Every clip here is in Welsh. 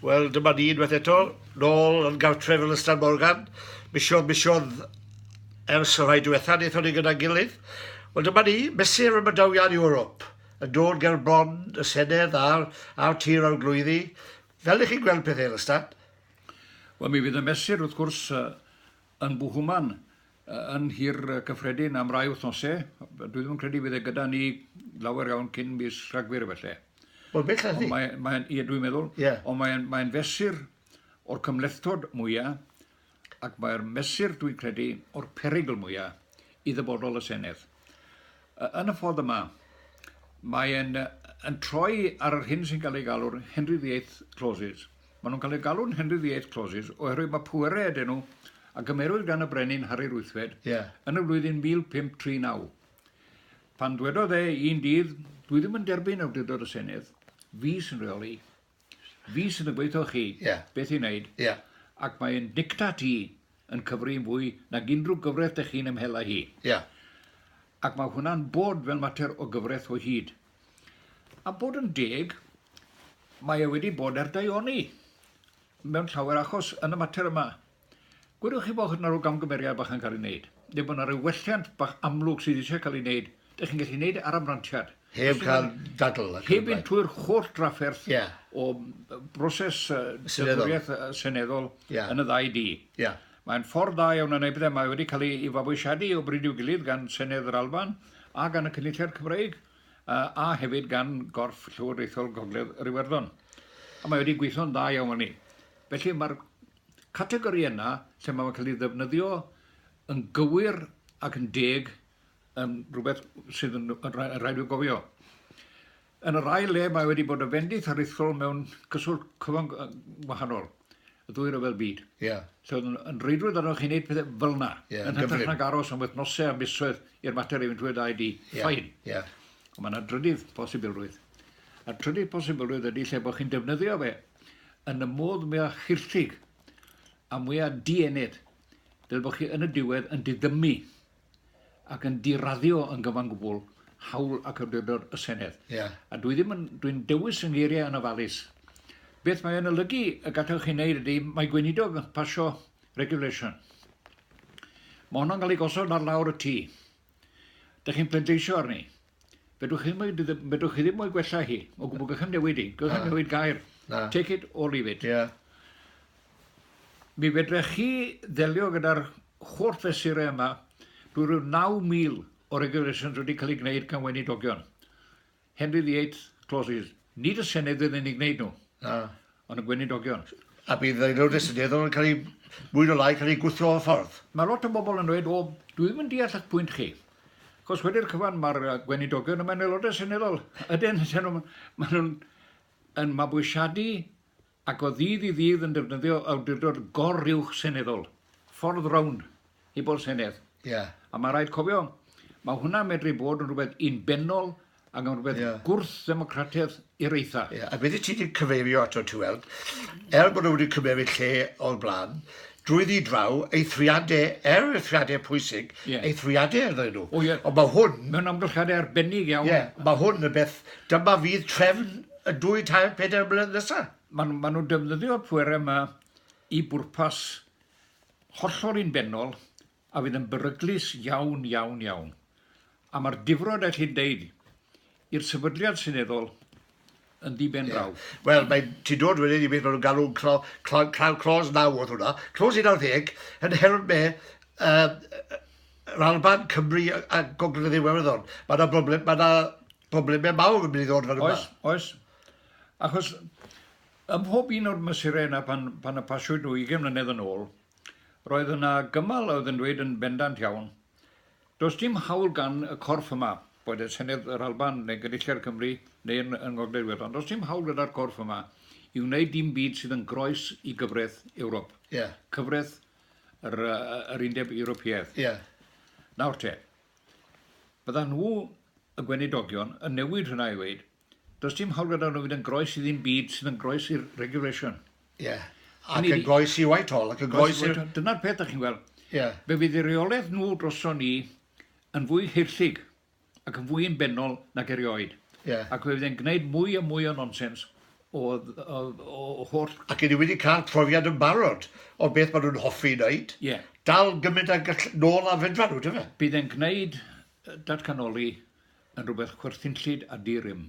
Wel, dyma ni unwaith eto, nôl yn gartref yn Ystad Morgan, misiodd misiodd ers y rhai diwetha wnaethon ni gyda'n gilydd. Wel, dyma ni, mesur am y dawiad Ewrop, yn dod ger bron y Senedd a'r, a'r Tir Arglwyddi. Fel ych chi'n gweld pethau yn Ystad? Wel, mi fydd y mesur, wrth gwrs, yn Buhuman, yn Nhŷ'r Cyffredin am rai wythnosau. Dwi ddim yn credu fydd e gyda ni lawer iawn cyn mis Rhagfyr efallai. Wel, bellach ydi. Mae, mae, ie, dwi'n meddwl. Yeah. Ond mae'n mae fesur o'r cymlethdod mwyaf ac mae'r mesur, dwi'n credu, o'r perygl mwyaf i ddyfodol y Senedd. Yn y ffordd yma, mae e'n yn troi ar yr hyn sy'n cael ei galw'r Henry VIII Clauses. Maen nhw'n cael eu galw'n Henry VIII Clauses oherwydd mae pwerau ydyn nhw a gymerwyd gan y Brenin Harri Ruthfed yeah. yn y flwyddyn 1539. Pan dwedodd e un dydd, dwi ddim yn derbyn awdurdod y Senedd, fi sy'n rheoli. fi sydd yn gweithio chi yeah. beth i wneud. Yeah. Ac mae'n dicta ti yn cyfri'n fwy nag unrhyw gyfraith dy chi'n ymhela hi. Yeah. Ac mae hwnna'n bod fel mater o gyfraith o hyd. A bod yn deg, mae e wedi bod ar daioni mewn llawer achos yn y mater yma. Gwedwch chi bod yna rhyw gamgymeriad bach yn cael ei wneud, neu bod yna rhyw welliant bach amlwg sydd eisiau cael ei wneud, dych chi'n gallu gwneud e ar amrantiad. Heb cael dadl. Heb fynd trwy'r holl drafferth yeah. o broses dynoriaeth seneddol yeah. yn y ddau di. Yeah. Mae'n ffordd da iawn yn ei bethau. Mae wedi cael ei fabwysiadu o bryd i'w gilydd gan Senedd yr Alban a gan y Cynulliad Cymreig a hefyd gan gorff llywodraethol Gogledd yr Iwerddon. A mae wedi gweithio'n dda iawn fan ni. Felly mae'r categori yna lle mae fe'n cael ei ddefnyddio yn gywir ac yn deg yn rhywbeth sydd yn rhaid i'w gofio. Yn yr ail le, mae wedi bod yn fendith aruthrol mewn cyswllt cyfan wahanol, y ddwy ryfedd byd. Yeah. So, yn reidrwydd arnoch chi'n gwneud pethau fel yna. Yeah, yn hytrach nag aros am wythnosau a misoedd i'r mater ei fynd trwy ddau di. Yeah. Ffain. Yeah. Ond mae yna drydydd posibilrwydd. A trydydd posibilrwydd ydy lle bod chi'n defnyddio fe yn y modd mwya chirllug a mwya dienydd, fel bod chi yn y diwedd yn diddymu ac yn diraddio yn gyfan gwbl hawl ac awdurdod y Senedd. Yeah. A dwi ddim yn, dwi'n dewis yn geiriau yn ofalus. Beth mae o'n olygu y gallwch chi wneud ydy, mae gweinidog yn pasio regulation. Mae honno'n cael ei gosod ar lawr y tŷ. Dych chi'n pleidleisio arni. Fedrwch chi ddim, fedrwch chi ddim o'i gwella hi. O gwbl, gallwn newid i. Gallwn ah. newid gair. Na. Take it or leave it. Yeah. Mi fedrech chi ddelio gyda'r holl fesurau yma drwy rhyw 9,000 o regulations wedi cael ei gwneud gan weinidogion. Henry the Eighth clauses. Nid y Senedd fydd yn ei gwneud nhw, ond y Gweinidogion. A bydd Aelodau Seneddol yn cael eu, mwy neu lai, cael eu gwthio o'r ffordd. Mae lot o bobl yn dweud, 'O, dwi ddim yn deall eich pwynt chi. Achos wedi'r cyfan mae'r Gweinidogion a mae'n Aelodau Seneddol. Ydyn, maen nhw'n mabwysiadu ac o ddydd i ddydd yn defnyddio awdurdod gor-uwch seneddol, ffordd rownd, heb ôl Senedd. Ie. A mae rhaid cofio, mae hwnna'n medru bod yn rhywbeth unbennol ac yn rhywbeth yeah. gwrth-ddemocratedd i'r eitha. Yeah. A beth ti wedi cyfeirio ato ti weld, er bod nhw wedi cymeryd lle o'r blaen, drwy ddi draw, eithriadau, er eithriadau pwysig, yeah. eithriadau ydyn nhw. Oh, yeah. Ond mae hwn... Mae'n amgylchiadau arbennig iawn. Yeah. Mae hwn y beth, dyma fydd trefn y dwy, tair, pedair blynedd nesaf. Maen ma nhw'n defnyddio y pwerau yma i bwrpas hollol un benol a fydd yn beryglus iawn, iawn, iawn. A mae'r difrod, a chi'n deud, i'r sefydliad seneddol yn ddiben draw. Yeah. Wel, mae ti dod wedyn i beth maen nhw'n galw'n clo, clo, clo, clos naw oedd hwnna. Clos 19 yn help me uh, yr Alban, Cymru a Gogledd Iwerddon. Mae yna broblem, mae yna Problemau mawr yn mynd i ddod fan yma. Oes, oes. Achos ym mhob un o'r mesurau yna pan, pan y pasiwyd nhw 20 mlynedd yn ôl, roedd yna gymal oedd yn dweud yn bendant iawn, does dim hawl gan y corff yma, boed e Senedd yr Alban neu Gynulliad Cymru neu yn, yn Ngogledd Iwerddon, does dim hawl gyda'r corff yma i wneud dim byd sydd yn groes i gyfraith Ewrop. Yeah. Cyfraith yr, yr Undeb Ewropeaidd. Yeah. Nawr te, Byddan nhw, y gweinidogion, yn newid hynna i ddweud, does dim hawl gyda nhw fynd yn groes i ddim byd sydd yn groes i'r regulation. Ie. Yeah. Ac yn groes i Whitehall, ac yn groes i... Dyna'r peth ydych chi'n gweld. Ie. Yeah. Fe fydd y reolaeth nhw droson ni yn fwy hirllug ac yn fwy yn benol nag erioed. Ie. Yeah. Ac fe fydd e'n gwneud mwy a mwy o nonsens o holl... Ac ydi wedi cael profiad yn barod o beth maen nhw'n hoffi wneud, dal gymaint a gall nôl a fedra nhw, dyfe? Bydd e'n gwneud datganoli yn rhywbeth chwerthinllyd a di-rym,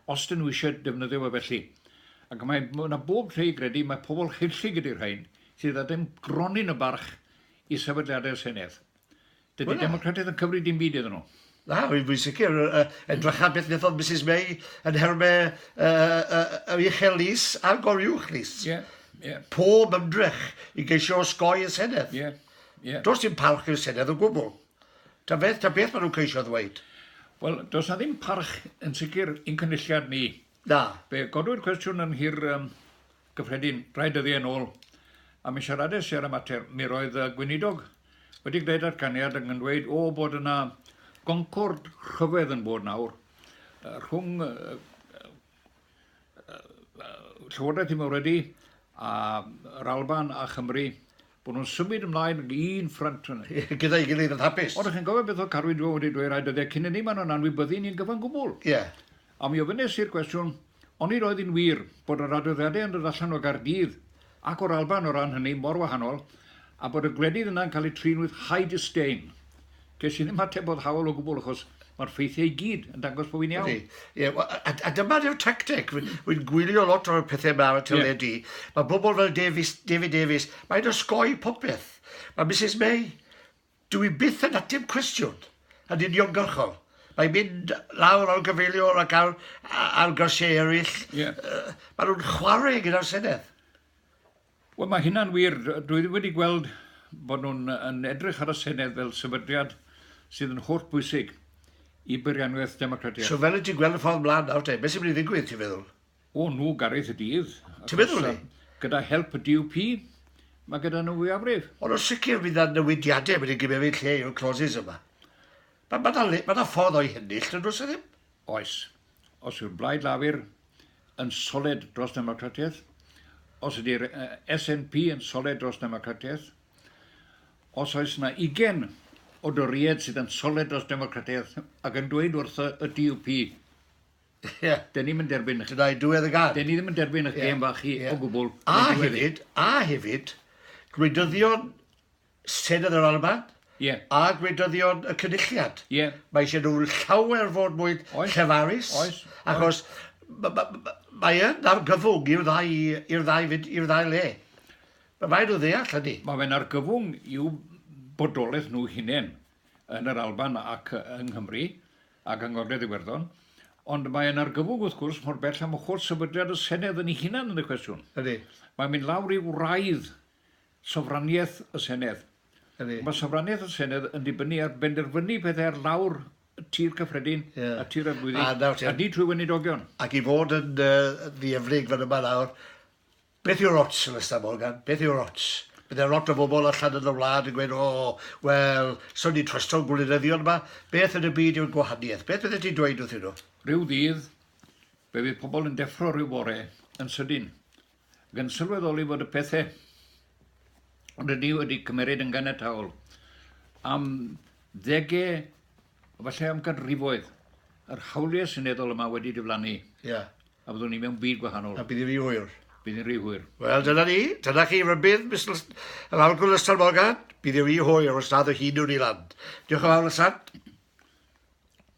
os ydyn nhw eisiau defnyddio fe felly. Ac mae yna bob lle i gredu, mae pobl haerllug ydi'r rhain, sydd â dim gronyn o barch i sefydliadau'r Senedd. Dydy well, Democratiaid yn cyfri dim byd iddyn nhw. Na, fi'n sicr. Edrych ar beth wnaethodd Mrs May yn herme yr uchel lys a'r goriwch lys. Yeah, yeah. Pob ymdrech i geisio osgoi y Senedd. Yeah, yeah. Does dim parch i'r Senedd o gwbl. Ta beth, ta beth maen nhw'n ceisio ddweud. Wel, does na ddim parch yn sicr i'n cynulliad ni Da. Fe godwyd cwestiwn yn Nhŷ'r Cyffredin rai dyddiau yn ôl a mi siarades i ar y mater. Mi roedd y Gweinidog wedi gwneud datganiad yn dweud o bod yna goncwr rhyfedd yn bod nawr rhwng Llywodraeth y Mawredi a'r Alban a Chymru, bod nhw'n symud ymlaen i un ffrynt. Gyda'i gilydd yn hapus. Ond chi'n gofio beth oedd Carwyn Jones wedi dweud rai dyddiau cyn hynny, maen nhw'n anwybyddu ni'n gyfan gwbl. Ie. A mi ofynes i'r cwestiwn, onid oedd hi'n wir bod yr adroddiadau yn dod allan o Gaerdydd ac o'r Alban o ran hynny mor wahanol, a bod y gwledydd yna'n cael eu trin with high disdain? Ges i ddim ateb boddhaol o gwbl achos mae'r ffeithiau i gyd yn dangos bod fi'n iawn. Ydy. Ie, wel, a, a dyma yw'r tacteg. Wy- Wy'n gwylio lot o'r pethau yma ar y teledu. Mae bobl fel Davies, David Davies, mae'n osgoi popeth. Mae Mrs May, Dw i byth yn ateb cwestiwn yn uniongyrchol. Mae'n mynd lawr o'r gyfeiliwr ac ar, ar gyrsiau eraill. Yeah. Uh, maen nhw'n chwarae gyda'r Senedd. Wel, mae hynna'n wir. Dwi ddim wedi gweld bod nhw'n yn edrych ar y Senedd fel sefydliad sydd yn holl bwysig i beirianwaith democratiaeth. So fel y ti'n gweld y ffordd mlaen nawr te, beth sy'n mynd i ddigwydd ti'n feddwl? O nhw Gareth y dydd. Ti'n meddwl ni? Gyda help y DUP, mae gyda nhw fwyafrif. Ond o sicr bydd yna newidiadau wedi gymeryd lle yw'r clauses yma. Mae ma na, ma na ffordd o'i hennill, dyn nhw'n ddim? Oes. Os yw'r Blaid Lafur yn soled dros democratiaeth, os ydy'r SNP yn soled dros democratiaeth, os oes yna ugen o Doried sydd yn soled dros democratiaeth ac yn dweud wrth y DUP Ie, dan ni'm yn derbyn eich... Tydau diwedd y gân. Dan ni ddim yn derbyn eich gêm fach chi o gwbl. A hefyd, a hefyd, gwleidyddion Senedd yr Alban yeah. a gwleidyddion y Cynulliad. Yeah. Mae eisiau nhw llawer fod mwy llefarus, oes, achos mae yn argyfwng i'r ddau, i'r ddau, i'r ddau le. Mae rhaid nhw ddeall hynny. Mae fe'n argyfwng i'w bodolaeth nhw hunain yn yr Alban ac yng Nghymru. ac yng Ngogledd Iwerddon, ond mae e'n argyfwng, wrth gwrs, mor bell â mochwr sefydliad y Senedd yn ei hunan yn y cwestiwn. Ydy. Mae'n mynd lawr i wraidd sofraniaeth y Senedd. Ydy. Mae sofraniaeth y Senedd yn dibynnu ar benderfynu pethau ar lawr y tir cyffredin, yeah. y tir arglwyddi, a, a ni trwy weinidogion. Ac i fod yn uh, ddiefrig fan yma nawr, Beth yw'r ots, Alastair Morgan? Beth yw'r ots? Bydde lot o bobl allan yn y wlad yn gweud, 'O, wel, so ni'n trwsto'n gwleidyddion yma? Beth yn y byd yw'r gwahaniaeth? Beth fyddet ti'n dweud wrthyn nhw? Rhyw ddydd, fe fydd pobl yn deffro rhyw fore yn sydyn, ac yn sylweddoli fod y pethau rydyn ni wedi cymeryd yn ganiataol am ddegau, efallai am ganrifoedd, yr hawliau seneddol yma wedi diflannu. Ie. A byddwn ni mewn byd gwahanol. A bydd yn rhy hwyr. Bydd yn rhy hwyr. Wel, dyna ni. Dyna chi rybudd, Mister yr Arglwydd Lester Morgan. Bydd yn rhy hwyr os nad o hyd yw'r i land. Diolch yn fawr, Lester.